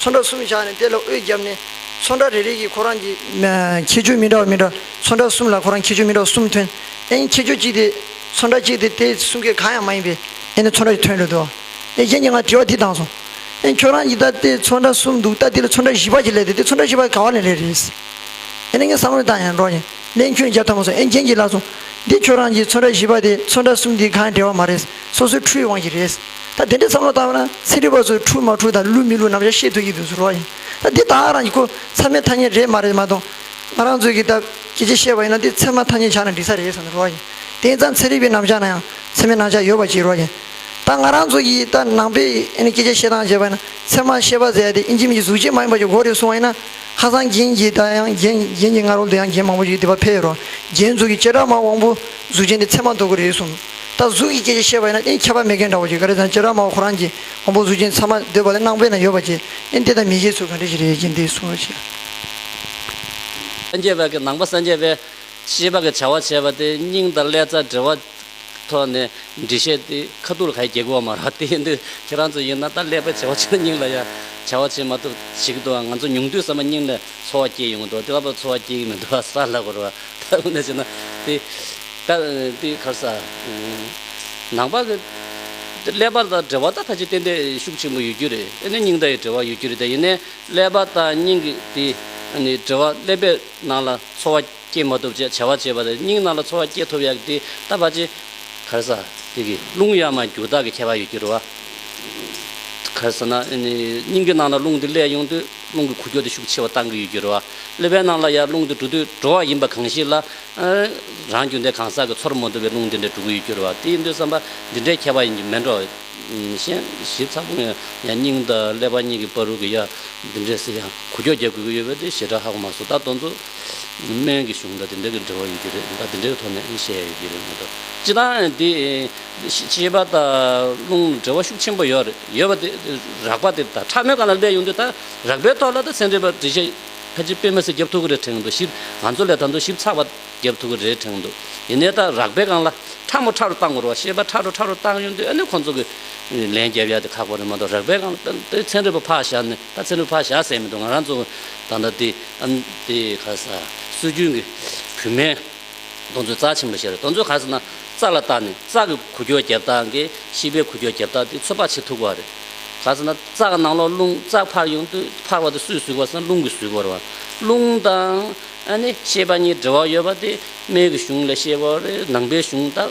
ཚོན་ཁྲ་གསུམ་བཞག་ནས་དེ་ལ་དབུས་བརྒྱབ་ནས། ཚོན་ཁྲ་རེ་རེ་གྱིས་ཁོ་རང་གི། ཁྱད་ཆོས་མི་འདྲ་བ་མི་འདྲ། ཚོན་ཁྲ་གསུམ་ལ་ཁོ་རང་ཁྱད་ཆོས་མི་འདྲ་བ་གསུམ་ཐོན། ཨེ་ཡིན་ཁྱད་ཆོས་གཅིག་དེ། ཚོན་ཁྲ་གཅིག་དེ་དེ་གསུམ་གའི་གང་ཡང་མ་ཡིན་པས། ཨེ་ནི་ཚོན་ཁྲ་ཞིག་ཐོན་འོས་འདུག་ཨ། ཨེ་གཞན་གྱིས་ང་དྲི་བ་འདི་བཏང་སོང། ཨེ་ཁྱོད་རང་གིས་ད་དེ་ཚོན་ཁྲ་གསུམ་འདུག་ད་དེ་ལ་ཚོན་ཁྲ་བཞི་པ་ཞིག་ལས་དེ་དེ་ཚོན་ཁྲ་བཞི་པ་ག་བ་ལས་ལས་རེད། ཨེ་ནི་ངས་བསམ་བློ་བཏང་ཡང་འགྲོ་ཡང་ལན་ཁྱོད་རྒྱབ་ཐབས་མ་སོང་ཨེ་གཞན་གྱིས་ལབ་སོང། འདི་ཁྱོད་རང་གིས་ཚོན་ཁྲ་བཞི་པ་དེ་ཚོན་ཁྲ་གསུམ་དེའི་གང་ཡང་འབྲེལ་བ་མ་རེད། སོ་སོའི་འཁྲུལ་བའི་དབང་ཞིག་རེད། ད་དེ་འདྲའི་མཚམས་ལོག་བཏགས་པ་ན་ཚན་རིག་པ་ཚོས་འཁྲུལ་མ་འཁྲུལ་དང་བསླུས་མི་བསླུས་ནམ་ཞར་ཤེས་ཐུབ་ཀྱི་འདུག་ཟེར་རོགས་ཡིན། ད་འདི་དག་རང་གི་ཁུ་ཚབ་མའི་ཐ་སྙད་རེད་མ་རེད་མ་གཏོགས། ང་རང་ཚོས་ཀྱིས་ད་ཀྱེ་ཀྱེ་བཤད་པ་ཡིན་ན་འདི་ཚད་མ་ཐ་སྙད་ཆགས་ན་འགྲིག་ས་རེད་ཟེར་རོགས་ཡིན། དེ་ཡིན་ཙང་ཚན་རིག་པའི་རྣམ་གཞག་ན་ཡང་ཚད་མའི་རྣམ་གཞག་ཡོད་པ་ཅིག་རོགས་ཡིན། ད་ང་རང་ཚོ་ཀྱིས་ད་ནང་པས་ཀྱེ་ཀྱེ་བཤད་སྟངས་བྱས་པ་ཡིན་ན་ཚད་མ་ཤེས་པ་ཟེར་ཡ་དེ་ཨིན་ཇིམ་གྱི་གཟུགས་བྱད་མ་ཡིན་པ་ཀྱི་འགོ་རེད་གསུང་བ་ཡིན་ན། ཁ་སང་རྒྱན་གྱི་ད་ཡང་རྒྱན་རྒྱན་གྱི་སྔ་རོལ་དུ་ཡང་རྒྱན་མང་པོ་ཞིག་འདི་བ་ཕེབས་ཡོད་རོགས་རྒྱན་གཟུགས་ཀྱི་བྱེ་བྲག་མ་དབང་པོ་གཟུགས་ཅན་དེ་ཚད་མ་འདོགས་ཀྱི་རེད་གསུང། ད་གཟུགས་ཀྱི་སྐད་ཅིག་ཤེས་པ་ཡིན་ན་ཨིན་ཁྱད་པར་མེད་མཁན་འདྲ་བོ་ཞིག་ག་རེ་དང་ཅེ་ར་མའོ་ཁོ་རང་གིས་དབང་པོ་གཟུགས་ཅན་ཚང་མ་འདོད་པ་ལས་སྣང་བས་ན་ཡོད་པ་ཅི་ཨིན་དེ་དང་མི་ཤེས་ཚུལ་གང་འདྲ་ཞིག་རེད་ཅེས་འདི་གསུངས་རོགས་བྱས། སངས་རྒྱས་པའི་ནང་པ་སངས་རྒྱས་པས་ཤེས་པ་གི་བྱ་བ་བྱས་པ་དེ་སྙིང་དང་ཀླད་རྩ་འབྲེལ་བ་ཐོག་ནས་འདྲི་ཤེས་ཏེ་ཁ་ཐུག་ལ་ག་ཡི་རྒྱལ་གོ་བ་མ་རག་དེ་འདི་ཁྱེད་རང་ཚོ་ཡིན་ན་ད་ཀླད་པའི་བྱ་བ་བྱས་ན་སྙིང་ལ་ཡང་བྱ་བ་བྱེད་མ་ཐུབ་ཟིག་གི་འདུག་ང་ཚོ་ཉུང་དུས་ཟ་མ་སྙིང་ལ་འཚོ་བ་སྐྱེས་ཡོང་གི་འདུག་དེ་ལྟ་བུ་འཚོ་བ་སྐྱེས་ཀྱི་མི་འདུག་བ་ས་ལ་གོ་རོ། ད་ཁོ་ནས་བྱས་ན་དེ་ད་དེ་གར་ས་ནང་པ་གི་ཀླད་པར་དང་འབྲེལ་བ་ད་ཁ་ཅིག་ཏན་ཏན་ཤུགས་ཆེན་པོ་ཡོད་རྒྱུ་རེད་དེ་ནས་སྙིང་ད་ཡི་འབྲེལ་བ་ཡོད་རྒྱུ་རེད་ད་ཡིན་ནས་ཀླད་པ་དང་སྙིང་གི་དེ་འབྲེལ་བ་ཀླད་པའི་ནང་ལ་འཚོ་བ་སྐྱེལ་མ་ཐུབ་ཅེས་བྱ་བ་བྱས་པ་དེ་སྙིང་ནང་ལ་འཚོ་བ་སྐྱེལ་ཐུབ་ཡག་དེ་ད་ཕ་ཅིག་གར་ས་དེ་གི་རླུང་ཡང་མ་འགྱུར་དག་གི་ཁྱད་པར་ཡོད་རྒྱུ་རེད་བ། གར་ས་ན་སྙིང་གི་ནང་ལ་རླུང་དེ་བསླད་ཡོང་དུས་རླུང་གི་ཁུ་འཁྱོག་དེ་ཤུགས་ཆེ་བ་གཏང་གི་ཡོད་རྒྱུ་རེད་བ། གླུད་པའི་ནང་ལ་ཡར་རླུང་འདི་འགྲོ་དུས་འགྲོ་བ་ཡིན་པ་གང་ཞིག་ལ། རང་རྒྱུ་འདི་གང་ཟག་གི་ཚོར་མོ་འདུ་བའི་རླུང་འདི་འདྲའི་འགྲོ་གི་ཡུལ་གྱུར་བ་དེ་ཡིན་དུས་བསམ་པ་འདི་འདྲའི་ཁྱད་པར་ཡིན་གྱི་མེད་འགྲོ། གཞན་ཞིབ་ཚགས་པོ་ངས་ཡང་སྙིང་དང་ཀླད་པ་གཉིས་ཀྱི་བར་རུ་གི་ཡ་འདི་འདྲའི་ཟེར་ཡང་གུ་ཀྱོག་རྒྱག་དགོས་ཀྱི་ཡོད་པས་དེ་ཞེ་དྲག་ཧ་གོ་མ་སོང་ད་དོན་དུ། སྨན་གྱི་གཞུང་དང་དེ་འདྲ་གི་འབྲེལ་བ་ཡོད་ཀྱི་རེད་ད་དེ་འདྲའི་ཐོག་ནས་བཤད་ཡ་ཡོད་ཀྱི་རེད་མ་གཏོགས་སྤྱི་དང་དེ། ཤེས་པ་དང་རླུང་ལ་འབྲེལ་བ་ཤུགས་ཆེན་པོ་ཡོད་རེད་ཡོད་པ་དེ་རགས་པ་དེ་ད་ཕྲ་མོའི་སྒང་ལ་སླེབས་ཡོང་དུས་ད། རག་པའི་ཐོག་ལ་དང་སེ་འབྲས་པར་བྲིས་ཤིག། ཁ་ཅིག་དཔེ་མི་སྲིད་རྒྱབ་ཐུག་གི་རེད་དྲན་འདུག་ཞིབ། ང་ཚོ་ལས་ད་དུང་ཞིབ་ཚགས་པ། རྒྱབ་ཐུག་གི་རེད་དྲན་འདུག་ཡིན་ནའི་ད་རག་པའི་སྒང་ལ། ཁྲ་མོ་ཁྲ་རུ་བཏང་དགོས་རོགས་ཤེས་པ་ཁྲ་རུ་ཁྲ་རུ་བཏང་ཡོང་དུས་ཨ་ནི་ཁོང་ཚོ་གིས། ལན་རྒྱབ་ཡ་དེ་ཁག་པོ་རེད་མ་གཏོགས་རག་པའི་སྒང་ལ་ད་དེ་ཚེ་འབྲས་པོ་ཕག་བཞག་ནི་ད་ཚེ་འབྲས་པོ་ཕག་བཞག་ཟེར་མི་འདུག་ང་རང་ཚོ། ད་ད་དེ་ཨ་ནི་དེ་ཁ་ས་སྲོལ་རྒྱུན་གྱི་བུད་མེད། རྡོ་མཛོད་རྩ་ཆེན་པོ་ཞེས་རེད་རྡོ་མཛོད་ག་ཟེར་ན་རྩ་ལ་བཏགས་ནས་རྩ་གི་གུ་གྱོ་རྒྱབ་བཏགས་ཀྱི་ཤིས་པའི་གུ་གྱོ་རྒྱབ་བཏགས་དེ་ཚོད་དཔག་བྱེད་ཐུག་པ་རེད། ག་ཟེར་ན་རྩ་གི་ནང་ལོགས་རླུང་རྩ་འཕར་ཡོང་དུས་འཕར་བ་དེ་སུས་གཟུགས་པ་ཟེར་ན་རླུང་གིས་གཟུགས་པར་བ། རླུང་དང། ཨ་ནི་ཤེས་པ་གཉིས་འབྲེལ་བ་ཡོད་པ་དེ་སྨད་ཀྱི་གཞུང་ལས་ཤེས་པའོ་རེད་ནང་པའི་གཞུང་དག་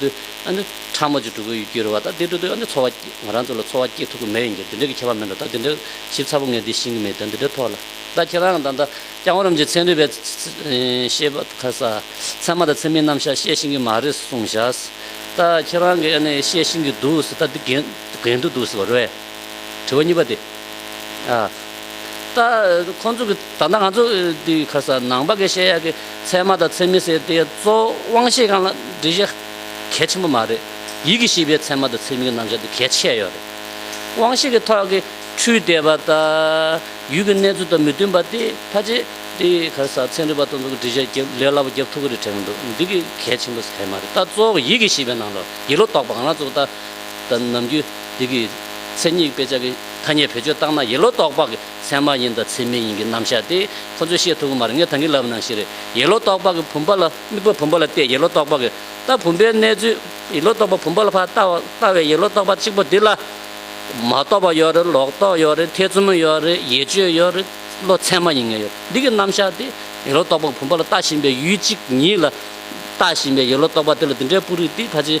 དུས་ཨ་ནི་ཕྲ་མོ་ཅིག་སྒྲུབ་ཀྱི་ཡོད་རེད་བ་ད་དེ་སྒྲུབ་དུས་ཨ་ནི་འཚོ་བ་ང་རང་ཚོ་ལ་འཚོ་བ་སྐྱེལ་ཐུབ་ཀྱི་མེད་ཡིན་གྱི་འདི་འདྲའི་གི་ཁྱད་པར་མེད་འགྲོ་ད་དེ་འདྲའི་ཞིབ་ཚགས་པོ་ངས་འདི་ཤེས་ཀྱི་མེད་ད་འདི་འདྲའི་ཐོག་ལ་ད་ཁྱེད་རང་གི་ད་ལྟ་ཀྱང་ཨོ་རམ་ཇི་ཚན་རིག་པའི་ཤེས་པ་ཁ་ས་ཚན་མ་དང་ཚན་མིའི་རྣམ་བཞག་བཤད་ཤེས་ཀྱི་མ་རེད་གསུངས་བཞག་ད་ཁྱེད་རང་གི་ཨ་ནི་བཤད་ཤེས་ཀྱི་འདུག་ཟེར་ད་འདི་འགན་འདུག་འདུག་ཟེར་བ་རེད་དྲི་བ་གཉིས་པ་དེ། ད། ཁོང་ཚོ་གི་ད་ང་ཚོ་དེ་ཁ་ས་ནང་པ་གི་ཤེས་ཡག་གི་ཚད་མ་དང་ཚད་མི་ཟེར་དེ་གཙོ་དབང་ཤེས་གང་ལ་འདྲི་གཞི་གལ་ཆེན་པོ་མ་རེད། ཡིད་ཀྱི་ཤེས་པའི་ཚད་མ་དང་ཚད་མི་གི་རྣམ་གཞག་དེ་གལ་ཆེ་ཡོད་རེད། དབང་ཤེས་གི་ཐོག་གི་འཕྲུལ་དད་པ་དང་ཡུལ་གི་གནས་ཚུལ་དང་མི་མཐུན་པ་དེ་ཕ་ཅེ་དེ་ཁ་ས་ཚན་རིག་པ་དང་ཚོ་གི་འདྲི་གཞི་རྒྱབ་ལས་སླ་པོ་རྒྱབ་ཐུབ་ཀི་རེད་དྲན་གི་འདུག་འདི་གི་གལ་ཆེན་པོ་ཟེར་མ་རེད་ད་གཙོ་བོ་ཡིད་ཀྱི་ཤེས་པའི་ནང་ལོ་ཡིད་ལོ་དོག་པ་གང་ལ་གཙོ་བོ་ད་ནམ་རྒྱུན། འདི་གི་མཚན་ཉིད་དཔེ་ཆ་གི་ཐ་སྙད་བེད་སྤྱོད་བཏང་ན་ཡེ་ལོ་རྟོགས་པ་གི་མཚན་མ་ཡིན་དང་མཚན་མེད་ཡིན་གི་རྣམ་གཞག་དེ་ཁོ་ཚོས་ཤེས་ཐུབ་གི་མ་རེད་ངས་ད་གིན་ལབ་ནང་བཞིན་རེད་ཡེ་ལོ་རྟོགས་པ་གི་བུམ་པ་ལ་དམིགས་པ་བུམ་པ་ལ་བལྟས་ཡེ་ལོ་རྟོགས་པ་གི་ལྟ་བུམ་པའི་གནས་ཚུལ་ཡེ་ལོ་རྟོགས་པ་བུམ་པ་ལ་ཕར་ལྟ་ལྟ་བའི་ཡེ་ལོ་རྟོགས་པ་གཅིག་པོ་འདི་ལ། མ་རྟོགས་པ་ཡོད་རེད་ལོག་རྟོག་ཡོད་རེད་ཐེ་ཚོམ་ཡོད་རེད་ཡེ་སྤྱོད་ཡོད་རེད་བློ་མཚན་མ་ཡིན་ངེས་ཡོད་རེད་འདི་གི་རྣམ་གཞག་དེ་ཡེ་ལོ་རྟོགས་པ་གི་བུམ་པ་ལ་ལྟ་བཞིན་པའི་ཡུལ་གཅིག་ཉིད་ལ། ལྟ་བཞིན་པའི་ཡེ་ལོ་རྟོགས་པ་དེ་ལ་འདི་འདྲའི་སྤུ་རིས་དེ་ཕ་ཆེ།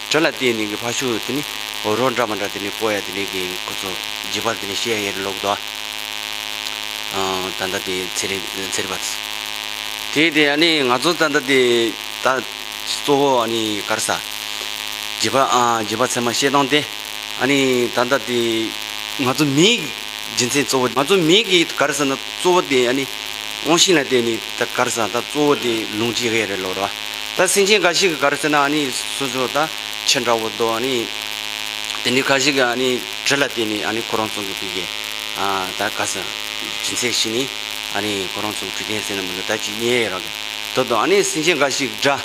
དྲི་ལ་བརྟེན་ནས་ཀྱི་ཕ་ཤུ་དེ་ནི་རོ་འདྲ་མ་འདྲ་དེ་ནི་པོ་ཡ་དེ་ནི་ཀྱི་ཁོ་ཚོ་རྗེས་པར་དེ་ནི་ཤེ་ཡ་ཡེར་ལོག་དོ་ཨ། ད་ད་དེ་ཚེ་རི་ཚེ་རི་བ་ཚེ། དེ་དེ་ཡ་ནི་ང་ཚོ་ད་ད་དེ་ད་གཙོ་བོ་ཨ་ནི་གར་ས། རྗེས་པ་ཨ་རྗེས་པ་ཚེ་མ་ཤེས་སྟངས་དེ་ཨ་ནི་ད་ད་དེ་ང་ཚོ་མིའི་རྗེས་མཚན་གཙོ་བོ་ང་ཚོ་མིའི་ཀྱི་གར་ས་ན་གཙོ་བོ་དེ་ཨ་ནི་དབང་ཤིང་ལ་བརྟེན་ནས་ད་གར་ས་ད་གཙོ་བོ་དེ་ལུང་རྗེ་ཡེར་ལོག་དོ་ཨ། ད་སེམས་ཅན་འགའ་ཞིག་གི་གར་ཟེར་ན་ནི་སོ་སོ་ད་ཁྱེད་འདྲ་བོ་འདུག་ནི། དེ་ནི་གང་ཞིག་གི་ནི་དྲི་ལ་བརྟེན་ནས་ནི་ཁོ་རང་ཚོ་གི་ཕི་གེ་ད་ག་ས་སྦྱིན་སྲེག་བྱས་ནས་ནི་ཁོ་རང་ཚོ་གི་ཕི་གེ་ཟེར་ན་མི་འདུག་ད་ཅི་ཉེ་རག་གི་དོ་དང་ནི་སེམས་ཅན་འགའ་ཞིག་གི་སྒྲ་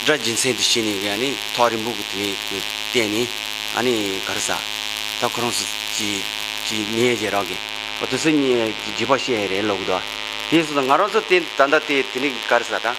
སྒྲ་སྦྱིན་སྲེག་འདི་བྱས་ནས་གི་ནི་ཐོག་རིང་པོ་གི་དེ་ནས་གི་བརྟེན་ནས་ནི་གར་ས་ད་ཁོ་རང་ཚོ་ཅི་ཅི་ཉེ་ཅི་རག་གི་འོ་དེ་ཚོ་ཉེ་ཅི་བྱེད་པ་བཤད་ཡས་རེད་ལོག་གི་འདུག་དེ་སོ་སོ་ང་རང་ཚོ་དེ་ད་ད་དེ་དེ་ནས་གི་གར་ས་ད།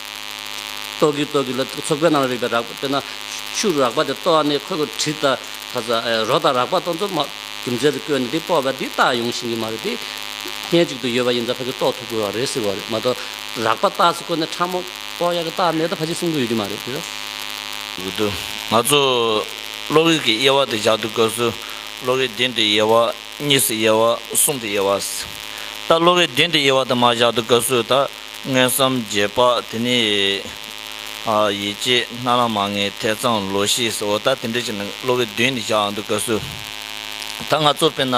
ཏོག་གིས་ཏོག་གིས་ལ་ཚོགས་པའི་ནང་རིགས་པའི་རགས་པ་དཔེར་ན། ཕྱུགས་རགས་པ་དེ་ལྟོ་བ་ནི་ཁོས་ཁོས་གྲི་དང། ཁ་ཟ། རོ་དང་རགས་པ་སྟོང་ཚོ་མ། རྒྱུ་མཚན་དུ་བཀོད་ནས་འདི་སྤོ་བ་འདི་བཏགས་ཡོང་བཞིན་གྱི་མ་རེད་དེ། གནས་གཅིག་ཏུ་ཡོད་པ་ཡིན་ཙང་ཕ་གིས་ལྟོགས་ཐུབ་དགོས་བ་རེད་ཟེར་བ་རེད་མ་གཏོགས། རགས་པ་བཏགས་ཚེ་ཁོ་ནི་ཁྲ་མོ། ཏོག་ཡག་གི་བཏགས་མེད་དུ་ཕ་གཅིག་གསུང་གི་ཡོད་ཀྱི་མ་རེད་དེ། གི་འདུག་ང་ཚོས། གློག་རིགས་ཀྱི་དབྱེ་བ་དེ་རྒྱག་དུས་གོས་སུ། གློག་རིགས་བདུན་དུ་དབྱེ་བ། གཉིས་སུ་དབྱེ་བ། གསུམ་དུ་དབྱེ་བ། ད་གློག་རིགས་བདུན་དུ་དབྱེ་བ་དུ་མ་བཞག་དུས་གོས་སུ། ད་དངོས་སམ་རྗེས་དཔག་དེ་ནི། ཡིད་ཆེས་སྣ་ལ་མ་ངེས་ཐེ་ཚོམ་ལོ་ཤེས་སོ་ད་དེ་འདྲ་ཞིག་ནི་གློ་བའི་དུས་ནས་བཞག་འདུག་དགའ་བསུ། ད་ང་ཚོ་དཔེར་ན།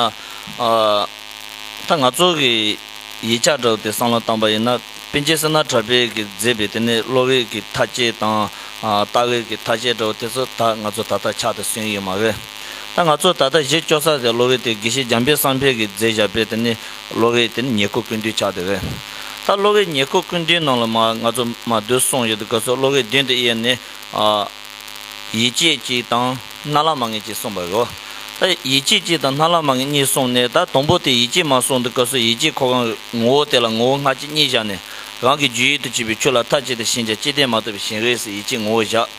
ད་ང་ཚོ་གི་ཡིད་ཆགས་དྲགས་ཏེ་བསམ་བློ་བཏང་པ་ཡིན་ན་དཔེ་ཇི་སྲིད་ན་དྲ་འབེལ་གྱིས་མཛེས་པའི་དེ་ནི་གློ་བའི་གི་ཐ་ཆད་དང། ལྟ་བའི་གི་ཐ་ཆད་འདྲ་བོ་དེ་ཚོ་ད་ང་ཚོ་ད་ལྟ་ཆགས་ཏེ་སོན་ཡོད་མ་རེད། ད་ང་ཚོ་ད་ལྟ་གཞི་བཅོལ་ས་དེ་གློ་བའི་དེ་དགེ་བཤེས་འཇམ་དཔལ་བསམ་འཕེལ་གྱིས་མཛད་བཞག་པའི་དེ་ནི་གློ་བའི་དེ་ནི་ཉེར་མཁོ་ཀུན་འདུས་ཆགས་དེ་བས། ད་གློ་བའི་ཉེར་མཁོ་ཀུན་འདུས་རྣམས་ལ་མ་ང་ཚོ་མ་བསྡུ་གསུངས་ཡོད་དུ་སྐབས་སོགས་གློ་བའི་བདུན་དུ་དབྱེ་ནས། ཡིད་ཆེས་ཀྱི་དང་སྣ་ལ་མ་ངེས་ཀྱི་གསུངས་པ་རེད། ད་ཡིད་ཆེས་ཀྱི་དང་སྣ་ལ་མ་ངེས་གཉིས་གསུངས་ནས་ད་དང་པོ་དེ་ཡིད་ཆེས་མ་གསུངས་འདུག་སྐབས་སོགས་ཡིད་ཆེས་འཁོར་གང་གི་ངོ་བོ་དེ་ལ་ངོ་བོ་སྔ་ཕྱི་གཉིས་བཞག་ནས། རང་གི་རྒྱུད་ཡིད་དུ་བྱས་པའི་ཆོས་ལ་མཐའ་གཅིག་ཏུ་ཞེན་ཅིང་སྤྱི་ལྡན་མ་ཐོབ་པའི་ཞེན་རེས་སུ་ཡིད་ཆེས་ངོ་བོ་བཞག།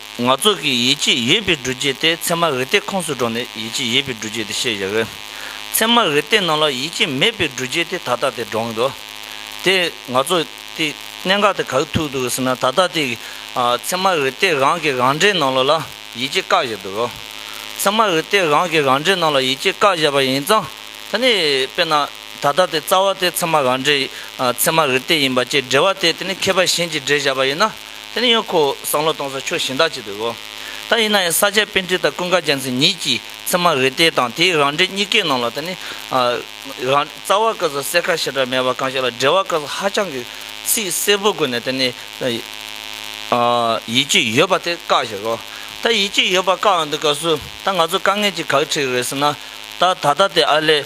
ང་ཚོ་གིས་ཡིད་ཆེས་ཡོད་པའི་འགྲུལ་སྐྱེལ་དེ་ཚད་མ་རི་སྟེགས་ཁོངས་སུ་འགྲོ་ནས་ཡིད་ཆེས་ཡོད་པའི་འགྲུལ་སྐྱེལ་དེ་ཤེས་ཡོད་དགོས། ཚད་མ་རི་སྟེགས་ནང་ལ་ཡིད་ཆེས་མེད་པའི་འགྲུལ་སྐྱེལ་དེ་ད་ལྟ་དེ་འགྲོ་གིན་འདུག་དེ། ང་ཚོ་དེ་གནད་འགག་དེ་ག་གི་ཐུག་འདུག་ཟེར་ན་ད་ལྟ་དེ། ཚད་མ་རི་སྟེགས་རང་གི་རང་འགྲེལ་ནང་ལ་ཡིད་ཆེས་བཀག་བཞག་འདུག་གོ། ཚད་མ་རི་སྟེགས་རང་གི་རང་འགྲེལ་ནང་ལ་ཡིད་ཆེས་བཀག་བཞག་པ་ཡིན་ཙང་ད་ནི་དཔེར་ན་ད་ལྟ་དེ་རྩ་བ་དེ་ཚད་མ་རང་འགྲེལ། ཚད་མ་རི་སྟེགས་ཡིན་པ་བཅས་འགྲེལ་བ་དེ་དེ་ནི་མཁས་པ་གཞན་གྱིས་འགྲེལ་བཞག་པ་ཡིན་ན། དེ་ནི་ཡོན་ཁོའོ་སང་ལོ་སྟོང་ས་ཆོས་གཞན་དག་ཅིག་ཏུ་གོ། ད་ཡིན་ན་ཡང་ས་སྐྱའི་དཔེ་འཁྲིད་དང་ཀུན་དགའ་རྒྱལ་མཚན་ཉིད་ཀྱིས་ཚད་མ་རི་ཏའི་དང་དེའི་རང་འགྲེལ་གཉིས་ཀའི་ནང་ལ་དེ་ནི། རང། རྩ་བ་སྐབས་སུ་གསལ་ཁ་ཞེ་དྲག་མེད་པར་གང་ཞིག་ལ་འགྲེལ་བ་སྐབས་སུ་ཧ་ཅང་གི་ཚིག་གསལ་པོ་བཀོད་ནས་དེ་ནི། ཡིད་ཀྱི་ཡོད་པ་དེ་བཀག་ཞེས་གོ། ད་ཡིད་ཀྱི་ཡོད་པ་བཀག་འདི་སྐབས་སུ་ད་ང་ཚོ་དཀའ་ངལ་གྱི་གག་ཁྲིག་རེད་ཟེར་ན། ད་ད་ལྟ་དེ་ཨ་ལས་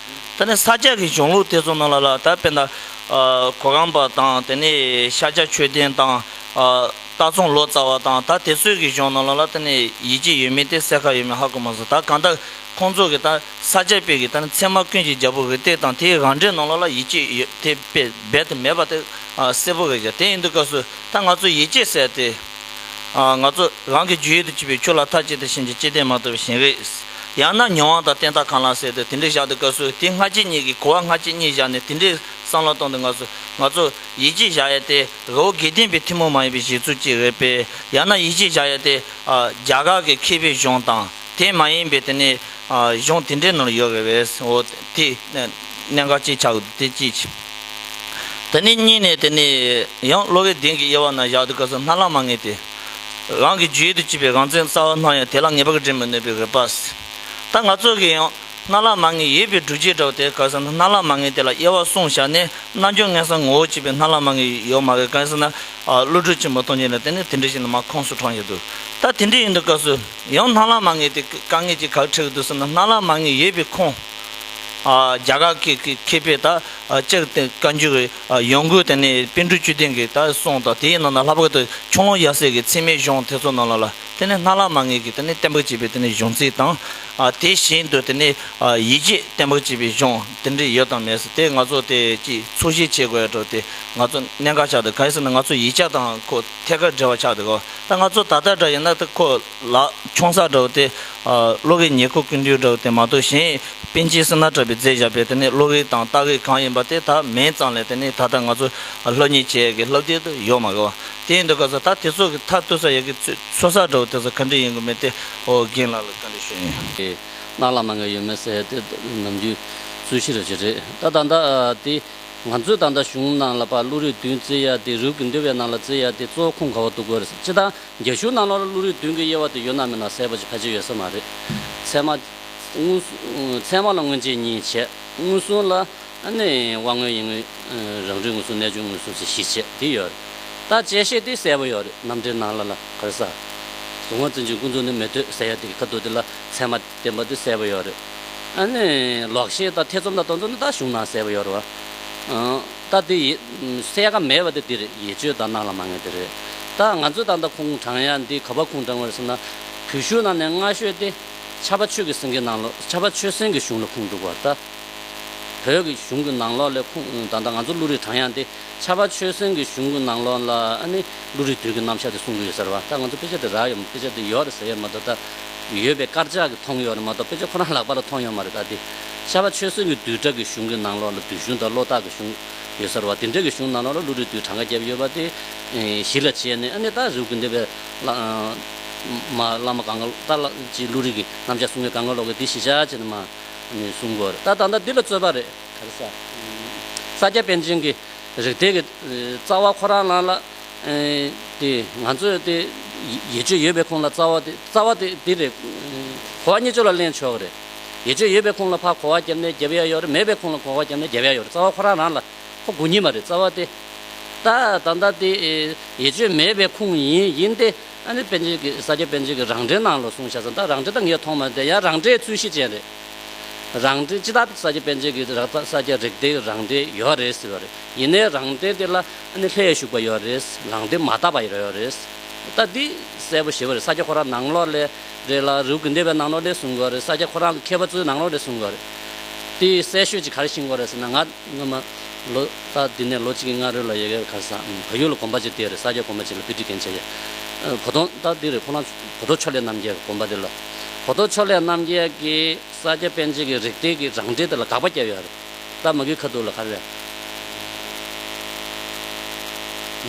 ད་ནི་ས་སྐྱ་ཀྱི་གཞུང་ལུགས་དེ་ཚོ་རྣམས་ལ་ལ་དྭགས་དཔེ་ཟླ། གོ་གམ་པ་དང་དེ་ནི་ཤ་སྐྱ་མཆོད་རྟེན་དང། རྟ་ཚོང་ལོ་ཙཱ་བ་དང་ད་དེ་ཚོའི་གི་གཞུང་རྣམས་ལ་ལ་དེ་ནི་ཡིད་ཀྱི་ཡོད་མིན་དེ་གསལ་ཁ་ཡོད་མེད་ཧ་གོ་མ་སོང་ད་གང་ལྟར་ཁོང་ཚོ་གི་ད་ས་སྐྱ་དཔེ་གི་ད་ནི་ཚད་མ་ཀུན་གྱི་རྒྱལ་པོ་རི་སྟེགས་དང་དེའི་རང་འགྲེལ་རྣམས་ལ་ལ་ཡིད་ཀྱི་ཡོད་དེ་དཔེ་རྦད་དེ་མེད་པ་དེ་གསལ་པོ་རེད་ཀྱ་དེ་ཡིན་དུས་སྐབས་སུ་ད་ང་ཚོ་ཡིད་ཀྱི་གསལ་ཏེ། ང་ཚོ་རང་གི་རྒྱུད་ཡུལ་དུ་སྐྱེས་པས་ཁྱོད་ལ་མཐའ་གཅིག་ཏུ་བྱིན་གྱིས་བརྩེ་ལྡན་མ་ཐུབ་པ་བཞིན་རེད། ཡང་ན་མྱོང་བ་དང་བསྟན་བདག་གང་ལ་ཟེར་ཏེ་དེ་འདྲའི་བཞག་འདུག་ག་སུ་དེ་སྔ་རྗེས་གཉིས་ཀྱིས་གོ་བ་སྔ་རྗེས་གཉིས་བཞག་ནས་དེ་འདྲའི་བསམ་བློ་གཏོང་འདུག་ང་ཚོ་ང་ཚོ་ཡིད་ཆེས་བཞག་ཡས་དེ་རོ་དགེ་ལྡན་པའི་ཐུན་མོང་མ་ཡིན་པའི་གཞི་ཚུལ་གཅིག་རེད་པས་ཡང་ན་ཡིད་ཆེས་བཞག་ཡས་དེ་རྒྱ་གར་གྱི་མཁས་པའི་གཞུང་དང་དེ་མ་ཡིན་པའི་དེ་ནས་གཞུང་དེ་འདྲའི་ནོར་ཡོད་རེད་བས་འོ་དེ་གནད་འགག་གཅིག་ཆགས་འདུག་དེ་ཅིའི་ཕྱིར། དེ་ནས་གཉིས་ནས་དེ་ནས་ཡང་གློ་བའི་གདན་གྱི་དབྱེ་བ་ན་བཞག་དུས་སྐབས་སུ་སྣ་ལ་མ་ངེས་ཏེ། རང་གི་རྒྱུད་དུ་བཅུད་པའི་རང་མཚན་རྩ་བ་སྣང་ཡང་དེ་ལ་ངེས་པར་འབྲེལ་མི་ནུས་པའི་རིགས་པས། ད་ང་ཚོ་གིས་ཡང་སྣ་ལ་མ་ངེས་ཡོད་པའི་སྒྲུབ་བྱེད་འདྲ་བ་དེ་སྐབས་སུ་སྣ་ལ་མ་ངེས་དེ་ལ་དབྱེ་བ་གསུངས་བཞག་ནས་རྣལ་འབྱོར་ལྔས་སམ་ངོ་བོ་གཅིག་པའི་སྣ་ལ་མ་ངེས་ཡོད་སྨྲ་བའི་སྐབས་སུ་ན་ཀླུ་སྒྲུབ་ཆེན་པོ་སྟོང་ཆེན་ལ་དེ་ནི་དེ་འདྲ་ཞིག་ནི་མ་ཁོངས་སུ་དྲངས་ཡོད་དོ། ད་དེ་འདྲ་ཡིན་དུས་སྐབས་སུ་ཡང་སྣ་ལ་མ་ངེས་དེ་དཀའ་ངལ་གྱི་གར་འཁྲིད་ཀྱི་དུས་སུ་ནི་སྣ་ལ་མ་ངེས་ཡོད་པའི་ཁུངས། རྒྱ་གར་གྱི་མཁས་པས་ད་ཅིར་བརྟེན་བཀའ་འགྱུར་གྱི་ཡོང་སྒོའི་སྟེང་ནས་པཎ་གྲུ་བཅུ་ལྡན་གྱི་ད་གསུང་དང་དེའི་ནང་ན་ལྷག་པར་དུ་ཁྱུང་ལུང་ཡབ་སྲས་ཀྱི་ཚིག་མའི་གཞུང་དེ་ཚོ་རྣམས་ལ་དེ་ནི་སྣ་ལག་མ་ངེས་ཀྱི་གཏན་འབེབས་བྱས་པའི་གཞུང་ཚིག་དང། དེ་བཞིན་དུ་ཡིད་ཆེས་གཏན་འབེབས་བྱས་པའི་གཞུང་དེ་འདྲ་ཡོད་དམ་མེད་དེ་ང་ཚོ་དེ་གཅིག་ཚོད་གཞིག་བྱེད་དགོས་འགྲོ་དེ་ང་ཚོ་གནད་འགག་ཆགས་འདུག་ག་དེ་སྲིད་ན་ང་ཚོ་ཡིད་ཆགས་དང་ཁོ་ཐད་ཀར་འབྲེལ་བ་ཆགས་འདུག་གོ་ད་ང་ཚོ་ད་ལྟ་འདྲ་ཡིན་ན་ད་ཁོ། ལགས། ཆུང་ཚགས་འདྲ་བོ་དེ། གློ་བའི་ཉེར་མཁོ་ཀུན་འདུས་འདྲ་བོ་དེ་མ་གཏོགས་གཞན། པཎ་ཆེན་སི་ནཱ་དྲ་བའི་རྫས་བཞག་པའི་དེ་ནས་གློ་བའི་དང་རྟ་བའི་གང་ཡིན་པ་དེ་དག་མེད་ཙང་ལས་དེ་ནས་ད་ལྟ་ང་ཚོ་ལྷ་མྱི་བྱེད་ཡ་གི་ལྷ་བརྒྱད་དུ་ཡོད་མ་གི་བ། དེ་ཡིན་དུ་ག་ས་ད་དེ་ཚོ་གི་མཐའ་བརྟོལ་ས་ཡ་གི་ཚོད་ཚགས་འདྲ་བོ་དེ་ཚོ་ག་འདྲི་ཡིན་གི་མེད་དེ་ཨོ་རྒྱན་ལགས་ལ་ག་འདྲི་ཞུ་ཡིན། གནག་ལ་མ་འགའ་ཡོད་མེད་ཟེར་ཡ་དེ་ནམ་རྒྱུན་རྩོད་གཞི་ར་བྱེད་རེད་ད་ད་ལྟ་དེ། ང་ཚོས་ད་ལྟ་གཞུང་ནང་ལ་པ་ཀླུ་རིགས་བདུན་བརྩི་ཡ་དེ་རུས་ཀུན་འདུས་པའི་ནང་ལ་བརྩི་ཡ་དེ་གཙོ་བོ་ཁུངས་ག་བ་འདུག་གོ་རེད་ཟེར་ཅི་ད་རྒྱ་གཞུང་ནང་ལོར་ཀླུ་རིགས་བདུན་གྱི་དབྱེ་བ་དེ་ཡོད་ནམ་མེད་ན་གསལ་པོ་ཅི་ཁ་ཅི་ཡོད་ས་མ་རེད། ཚད་མ། ཚད་མ་ལ་མངོན་རྗེས་གཉིས་བྱས། མངོན་སུམ་ལ། ནི། དབང་མངོན་ཡིན་མངོན། རང་རིག་མངོན་སུམ་གནས་ཆུང་མངོན་སུམ་ཞེས་བཞི་བྱས་དེ་ཡོད་རེད། ད་དཔྱད་ཤེས་དེ་གསལ་པོ་ཡོད་རེད་རྣམ་འགྲེལ་ནང་ལ་ལ་ག་རེ་ཟ། གཟུང་བ་འཛིན་ཅིང་ཀུན་རྫོབ་ནི་མི་ལྟོས་ཟེར་ཡ་དེ་གི་ཁ་བསྡུར་དེ་ལ་ཚད་མ། དེ་མ་དུས་གསལ་པོ་ཡོད་རེད། ཨ་ནི། ལོག་ཤེས་དང་ཐེ་ཚོམ་དང་སྟོང་ཚོམ་དེ་ད་གཞུང་ནང་གསལ་པོ་ཡོད་རེད། ད་དེ་ཡིན། གསལ་ཁ་མེད་པ་དེ་འདིར་ཡིད་དཔྱོད་དང་གནང་ལ་མ་ངེས་དེ་རེད། ད་ང་ཚོས་ད་ལྟ་ཁུངས་དྲངས་ཡ་འདི་ག་པར་ཁུངས་དྲངས་དགོས་ཟེར་ན། བུ་ཤུག་ནང་ནས་སྔ་ཤོས་ཏེ། ཆབ་པ་ཆོས་ཀྱི་སེང་གེ་ནང་ལོ་ཆབ་པ་ཆོས་སེང་གི་གཞུང་ལ་ཁུངས་གཏུགས་པར་ལྟ། བོད་ཀྱི་གཞུང་གི་ནང་ལོགས་ལས་ཁུངས་ད་ལྟ་ང་ཚོ་ཀླུ་རིགས་གྲངས་ཡངས་ཏེ་ཆར་པ་ཆོས་སེང་གི་གཞུང་གི་ནང་ལོགས་ལ་ནི་ཀླུ་རིགས་དུས་ཀྱི་རྣམ་གཞག་དེ་གསུང་གི་ཡོད་ཟེར་བ་ད་ང་ཚོ་དཔེ་ཆ་དེ་རག་ཡོད་མ་དཔེ་ཆ་དེ་ཡོད་རེད་ཟེར་ཡོད་མ་ད་ལྟ་ཡོད་པའི་དཀར་ཆག་གི་མཐོང་ཡོད་རེད་མ་གཏོགས་དཔེ་ཆ་ཁོ་རང་ལག་པ་ལ་མཐོང་ཡོད་མ་རེད་ད་དེ་ཆར་པ་ཆོས་སེང་གི་དུས་བྲག་གི་གཞུང་གི་ནང་ལོགས་ལ་དུས་གཞུང་དང་བློ་རྟགས་ཀྱི་གཞུང་ཡོད་ཟེར་བ་དེ་འདྲ་གི་གཞུང་ནང་ལོགས་ལ་ཀླུ་རིགས་དུས་གྲངས་ཀ་བརྒྱད་ཡོད་པ་དེ་གཞི་ལ་བྱས་ནས་ནི་ད་རེ་བརྐུས་འདེད་པའི་བླ་མ་བླ་མ་གང་ག་ད་ཅིག་ཀླུ་རིགས་ཀྱི་རྣམ་གཞག་གསུང་མཁན་གང་ག་ལོག་གི་དེ་གཞི་ཆགས་བྱས་ནས་མ། ནས་བཟུང་དགོས། ད་ད་ལྟ་འདི་ལ་རྩོད་པ་རེད། དར་ས། ས་སྐྱ་པཎ་ཆེན་གྱི་རིགས་དེ་གི་རྩ་བ་ཁོ་རང་རང་ལ་དེ་ང་ཚོས་དེ་ཡེ་ཆོད་ཡོད་པའི་ཁོང་ལ་རྩ་བ་དེ་རྩ་བ་དེ་འདི་རེད། གོ་བ་གཉིས་ཆོས་ལ་གླེང་ཆོག་གི་རེད། ཡེ་ཆོད་ཡོད་པའི་ཁོང་ལ་ཕ་གོ་བ་རྒྱབ་ནས་རྒྱབ་ཡ་ཡོད་རེད་མེད་པའི་ཁོང་ལ་གོ་བ་རྒྱབ་ནས་རྒྱབ་ཡ་ཡོད་རེད་རྩ་བ་ཁོ་རང་རང་ལ་ཁོ་དགུ་གཉིས་མ་རེད་རྩ་བ་དེ། ད་ད་ལྟ་དེ་ཡེ་ཆོད་མེད་པའི་ཁོང་ཡིན་ཡིན་ཏེ། ཨ་ནི་པན་ཆེན་གྱིས་ས་སྐྱ་པན་ཆེན་གྱི་རང་འགྲེལ་ནང་ལ་གསུངས་བྱ་ས་དང་རང་འགྲེལ་ད་ངས་མཐོང་མ་དེ་ཡང་རང་འགྲེལ་རྩོད་གཞི་ཅན་རེད། རང་འགྲེལ་སྤྱི་དག་ས་སྐྱ་པན་ཆེན་གྱི་རག་ཐག་ས་སྐྱ་རིག་སྡེའི་རང་འགྲེལ་ཡོད་རེད་ཟེར་བ་རེད། ཡིན་ནའི་རང་འགྲེལ་དེ་ལ་ཨ་ནི་ལྷད་ཞུགས་པ་ཡོད་རེད། རང་འགྲེལ་མ་བལྟ་བ་ཡོད་རེད། ད་འདི་གསལ་པོ་ཞེས་བ་རེད་ས་སྐྱ་ཁོ་རང་ནང་ལོགས་ལས་རེད་ལ་རེའུ་གུ་འདེད་པའི་ནང་ལོགས་ལས་གསུངས་དགོས་རེད་ས་སྐྱ་ཁོ་རང་གི་མཁས་པ་ཚོའི་ནང་ལོགས་ལས་གསུངས་དགོས་རེད། དེའི་གསལ་ཤོས་ཅིག་ག་རེ་ཤེས་དགོས་རེད་ཟེར་ན་ང་སྔོན་མ། ལོ་ཙཱ་འདི་ནས་ལོ་གཅིག་གི་སྔ་རོལ་ལ་ཡལ་གའི་ཁར་སང་ཕ་ཡུལ་ལ་གོམ་པ་ཅིག་བཏེགས་རེད་ས་སྐྱ་གོམ་པ་ཅིག་ལ་དཔེ་འཁྲིད་མཁན་བྱས་ཡོད། བོ་དོང་རྟགས་འདི་རེད་ཁོ་རང་བོ་དོ་ཕྱོགས་ལས་རྣམ་རྒྱལ་གི་གོམ་པ་དེ་ལ། བོ་དོ་ཕྱོགས་ལས་རྣམ་རྒྱལ་གྱིས་ས་སྐྱ་པན་ཆེན་གྱི་རིགས་གཏེར་གྱི་རང་འགྲེལ་དེ་ལ་དགག་པ་བརྒྱབ་ཡོད་རེད། རྟ་མགུལ་ཁ་ཐུག་ལ་ཁ་རེད།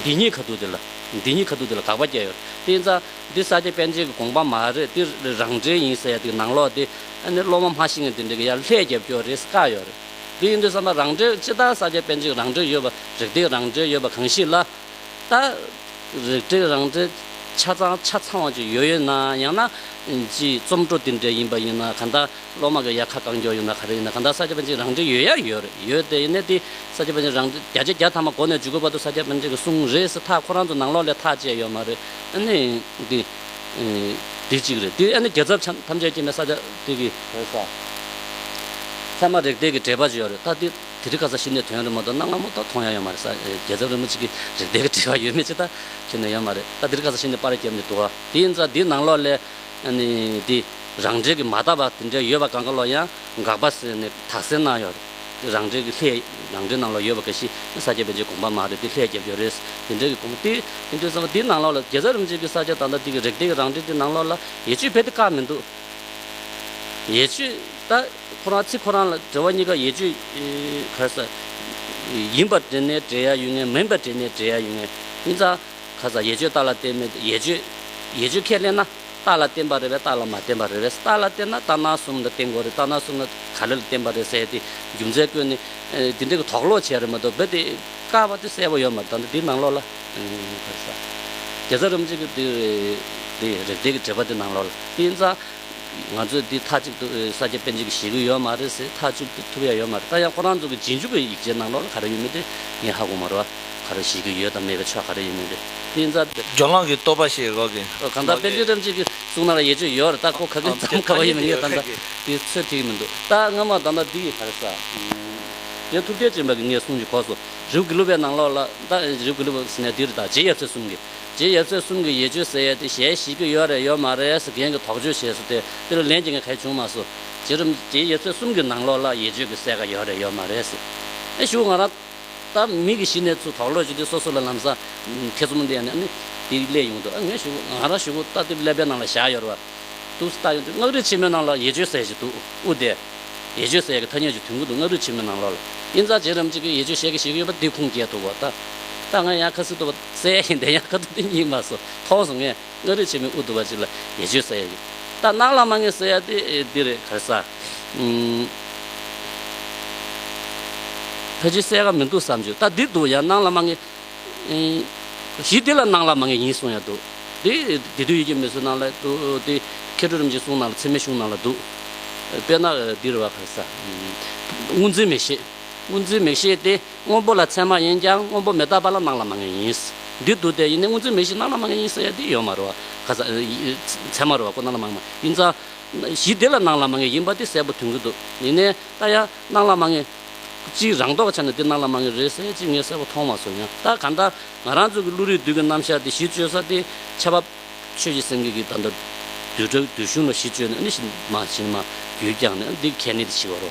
འདི་གཉིས་ཁ་ཐུག་དེ་ལ། འདི་གཉིས་ཁ་ཐུག་དེ་ལ་དགག་པ་བརྒྱབ་ཡོད་རེད། དེ་ཡིན་ཙང། འདི་ས་སྐྱ་པན་ཆེན་གྱི་དགོངས་པ་མ་རེད་དེ། རང་འགྲེལ་ཡིན་ཟེར་ཡ་དེ་གི་ནང་ལོགས་དེ། ཨ་ནི་སློབ་མ་མ་ཤེས་མཁན་དེ་འདྲ་གི་ཡར་ལྷད་རྒྱབ་སྐྱོར་རེད་བཀག་ཡོད་རེད། འདི་ཡིན་དུས་བསམ་པ་རང་གྲོལ་ཅི་ལྟར་ས་བརྒྱད་པད་འཇིགས་རང་གྲོལ་ཡོད་པ་རིག་སྟེགས་རང་གྲོལ་ཡོད་པ་གང་ཞིག་ལ་ལྟ། རིག་སྟེགས་རང་གྲོལ་ཆ་ཚང་ཆ་ཚང་བ་ཅིག་ཡོད་ཡོད་ན་ཡང་ན། སྤྱིའི་རྩོམ་འཕྲོ་འདི་འདྲའི་ཡིན་པ་ཡིན་ན་ག་ལྟ་སློབ་མ་གི་ཡ་ཁ་གང་འགྱོགས་ཡོད་ན་ག་རེ་ཡིན་ན་ག་ལྟ་ས་བརྒྱད་པད་འཇིགས་རང་གྲོལ་ཡོད་ཡ་ཡོད་རེད་ཡོད་དེ་ཡིན་ན་དེ་ས་བརྒྱད་པད་འཇིགས་རང་གྲོལ་བརྒྱ་ཆ་བརྒྱ་ཐ་མ་གོ་ནས་འཇུག་གི་བར་དུ་ས་བརྒྱད་པད་འཇིགས་གསུང་རེས་ཐག་ཁོ་རང་ཚོ་ནང་ལོགས་ལས་ཐག་བཅད་ཡོད་མ་རེད། དེ་གཅིག་རེད། དེ་ཨ་ནི་རྒྱལ་ཚབ་ཆམ་ཐམས་ཅད་ཀྱི་ནི་ས་ཆ་དེ་གི། ལྷོ་ས། ཚད་མ་རིགས་འདེད་ཀྱི་འགྲེལ་པ་ཅིག་ཡོད་རེད་ད། དེ་དེ་རིག་ག་ས་ཞིག་ནས་ཐོན་ཡོད་རེད་མ་གཏོགས་གནའ་སྔ་མོ་ད་མཐོང་ཡ་ཡོད་མ་རེད་ས་རྒྱལ་ཚབ་རིན་པོ་ཆེ་གི་རིགས་འདེད་ཀྱི་འགྲེལ་བ་ཡོད་མེད་ཅིག་ད་ཁྱོན་ནས་ཡོད་མ་རེད་ད་དེ་རིག་ག་ས་ཞིག་ནས་པར་བརྒྱབ་ནས་འདུག་ཨ། དེ་ཡིན་ཙང་དེའི་ནང་ལོགས་ལས། ཨ་ནི་དེ་རང་འགྲེལ་གྱི་མ་བཏབ་པ་དེ་འདྲའི་ཡོད་པ་གང་ག་ལོགས་ཡང་འགག་པ་ཟེར་ནས་དག་གསལ་གནང་ཡོད་རེད། རང་འགྲེལ་གྱི་ལྷད། རང་འགྲེལ་ནང་ལ་ཡོད་པ་ག་ཤི་ནི་ས་སྐྱ་པན་ཆེན་དགོངས་པ་མ་རེད་དེ་ལྷད་རྒྱབ་རྒྱབ་རེད། དེ་འགྲེལ་གྱི་དགོངས་དེ་ཨིན་དྲོད་གསང་བ་དེའི་ནང་ལོགས་ལ་རྒྱལ་ཚབ་རིན་པོ་ཆེ་གི་ས་སྐྱ་དང་ད་ལྟའི་གི་རིག་གཏེར་གྱི་རང་འགྲེལ་དེ་ནང་ལོགས་ལ་ཡེ་ཆོས་རྦད་དེ་བཀག་མི་འདུག། ཡེ་ཆོས་ད་ཁོ་རང་ཚིག་ཁོ་རང་ལ་འགྲེལ་བ་གཉིས་ཀ་ཡེ་ཆོས་ག་ས་ཡིན་པར་འགྲེལ་ནས་འགྲེལ་ཡ་ཡོད་ངེས་མིན་པར་འགྲེལ་ནས་འགྲེལ་ཡ་ཡོད་ངེས། དབྱིན་ཚང་ག་ས་ཡེ་ཆོས་ད་ལ་བལྟས་མེད་དུ་ཡེ་ཆོས་ཡེ་ཆོས་ཁས་ལེན་ན། རྟགས་ལ་བརྟེན་པར་རེ་བས་རྟགས་ལ་མ་བརྟེན་པར་རེ་བས་རྟགས་ལ་བརྟེན་ན་རྟགས་སྣང་གསུམ་ལ་བརྟེན་དགོས་རེད་རྟགས་སྣང་གསུམ་ལ་ག་རེ་ལ་བརྟེན་པར་རེ་ཟེར་ཏེ་རྒྱུ་མཚན་བཀོད་ནས། དེ་འདྲའི་དོགས་ལོག་བྱས་རེད་མ་གཏོགས་རྦད་དེ་བཀག་པ་དེ་གསལ་པོ་ཡོད་མ་ད་འདི་ནང་ལོགས་ལ། རྒྱལ་རྩ་རིན་པོ་ཆེ་གི་འདི་རེད་འདི་རེད་དེ་གི་འགྲེལ་པ་དེ་ནང་ལོགས་ལ་དབྱིན་ཙང། ང་ཚོས་འདི་མཐའ་གཅིག་ཏུ་ས་སྐྱ་པཎ་ཆེན་གྱིས་བཞེས་གི་ཡོད་མ་རེད་ཟེར་ཐག་གཅོད་ཐུབ་ཡ་ཡོད་མ་རེད་ད་ཡང་ཁོ་རང་ཚོ་གི་རྗེས་འཇུག་གི་ཡིག་ཆའི་ནང་ལོགས་ལ་ག་རེ་ཡོད་མེད་དེ་ངས་ཧ་གོ་མ་རུ་ཨ། ག་རེ་བྱེད་ཀྱི་ཡོད་དམ་མེད་པའི་ཆ་ག་རེ་ཡིན་མིན་དེ་སྨིན་ཚར་དེ། ཇོ་ནང་གི་རྟོག་པ་ཞེས་འགོག་གི། ཨོ་གང་ལྟར་དཔེ་བརྗོད་ཐེངས་གཅིག་གི་གསུང་ན་ཡས་བཅོས་ཡོད་རེད་ད་ཁོ་ག་གི་ཙམ་ག་བ་ཡིན་མིན་ངས་ད་ལྟ་དེ་ཚོད་ཐིག་མི་འདུག་ད་སྔ་མ་ད་ལྟ་འདི་ཡི་བར་ས་དེ་ཐུབ་བསྟན་ཅན་པ་གི་ངའི་གསུང་གི་གོགས་སུ་རིའུ་གི་ལུ་པའི་ནང་ལོགས་ལ་ད་རིའུ་གི་ལུ་པ་ཟེར་ནས་འདིར་ད་རྗེ་ཡབ་ཚེ་གསུམ་གི་རྗེ་ཡབ་ཚེ་གསུམ་གི་ཡས་བཅོས་ཟེར་ཡས་དེ་གཞན་བྱེད་ཀྱི་ཡོད་རེད་ཡོད་མ་རེད་ཟེར་མཁན་གྱི་དོགས་བཅོས་བྱས་སོ་དེ་དེར་ལན་གྱི་ངས་གལ་བྱུང་མ་སོ་རྗེ་རིམ་རྗེ་ཡབ་ཚེ་གསུམ་གི་ནང་ལོགས་ལ་ཡས་བཅོས་ཀྱི་གསལ་ཁ་ཡོད་རེད་ཡོད་མ་རེད་ཟེར་ཨེ་ཞུ་ང་རང། ད་མི་གི་གཞི་ནས་ཚུ་དོག་ལོས་བྱེད་དུས་སོ་སོ་ལ་ལམ་སང་ཐེ་ཚོམ་ལས་ནས་ནི་དེ་ལས་ཡོང་དུས་ཨ་ངས་ཞུ་ང་རང་ཞུ་ལྟ་དེབ་ཀླད་པའི་ནང་ལ་བཞག་ཡོད་ར་འདུག་ལྟ་ཡོང་དུས་སྔགས་རིག་ཆེན་མོའི་ནང་ལ་ཡེ་ཆོས་ཟེར་ཞིག་འདུག་ཨུ་དེ། ཡེ་ཆོས་ཟེར་གི་ཐ་སྙད་ཅིག་དུས་འགོ་འདུག་སྔགས་རིག་ཆེན་མོའི་ནང་ལོག་ལ་དབྱིན་རྩ་རྗེས་རམ་ཅིག་གིས་ཡེ་ཆོས་བཤད་གི་ཞིག་ཡོད་པ་དེ་ཁུངས་སྐྱེལ་ཐུབ་བོ་ལྟ། ད་ང་ཡང་ཁ་སིལ་ཏོ་བ་སེ་ཡིན་དེ་ཡང་ཁ་ཏོ་དེ་གཉིས་མ་སོ་ཐོག་སོང་ངས། སྔགས་རིག་ཆེན་མོའི་དབུ་དུ་བ་ཅིག་ལ་ཉེས་སྤྱོད་བསལ་ཡ་ཡོད། རྟ་ནག་ལ་མ་ངེས་བསལ་ཡ་དེ་འདི་རེད་ག་ས། ཕལ་ཆེར་བསལ་ཀ་མི་འདུག་བསམ་བྱུང་རྟ་འདི་འདུག་ཡང་ནག་ལ་མ་ངེས། གཞི་འདི་ལ་ནག་ལ་མ་ངེས་ཡིན་གསུང་ཡ་འདུག་དེ་དེ་དུས་ཡི་གེ་མི་བཟོ་ནག་ལ་འདུག་དེ་མཁས་གྲུབ་རིམ་གྱིས་གསུང་ནག་ལ་ཚད་མའི་གཞུང་ནག་ལ་འདུག། དཔེར་ན་འདི་རེད་བ་ག་ས། དངོས་འཛིན་མེད་ཤེས་དངོས་འཛིན་མེད་ཤེས་དེ་སྔོན་པོ་ལ་མཚན་མ་ཡིན་ཀྱང་སྔོན་པོ་མི་རྟག་པ་ལ་སྣང་ལ་མ་ངེས་ཡིན། འདི་དུ་སྟེ་ཡིན་ནི་སྔོན་ཚུལ་མེད་བཞིན་སྣང་ལ་མ་ངེས་ཡིན་ཟེར་ཡ་འདི་ཡོད་མ་རུ། ག་ས། མཚན་མ་རུ་བ་ཀོ་སྣང་ལ་མ་ངེས་མ་ཡིན་ཙང། གཞི་བདེ་ལ་སྣང་ལ་མ་ངེས་ཡིན་པ་འདི་གསལ་པོ་དོན་གྱི་འདུག་ཡིན་ནས་ད་ཡ་སྣང་ལ་མ་ངེས། གཅིག་རང་ལྡོག་ཆ་ནས་འདི་སྣང་ལ་མ་ངེས་རེད་ཟེར་གཅིག་ངས་གསལ་པོ་མཐོང་མ་སོང་ཡང་ད་ག་འདྲ། ང་རང་ཚོ་གི་ཀླུ་རིགས་བདུད་ཀྱི་རྣམ་གཞག་འདི་གཞི་བཅོལ་ས་འདི་ཆ་བབ། ཆོས་ཀྱི་སེང་གེ་གིས་ད་ལྟ་བདུད་བདུད་གཞུང་ལ་གཞི་བཅོལ་ནས་ཨ་ནི་ཤི་མ་ཤི་ནི་མ་རྒྱུད་བསྐྱངས་ནས་ཨ་འདི་གལ་གནད་དུ་ཤི་བ་རུ།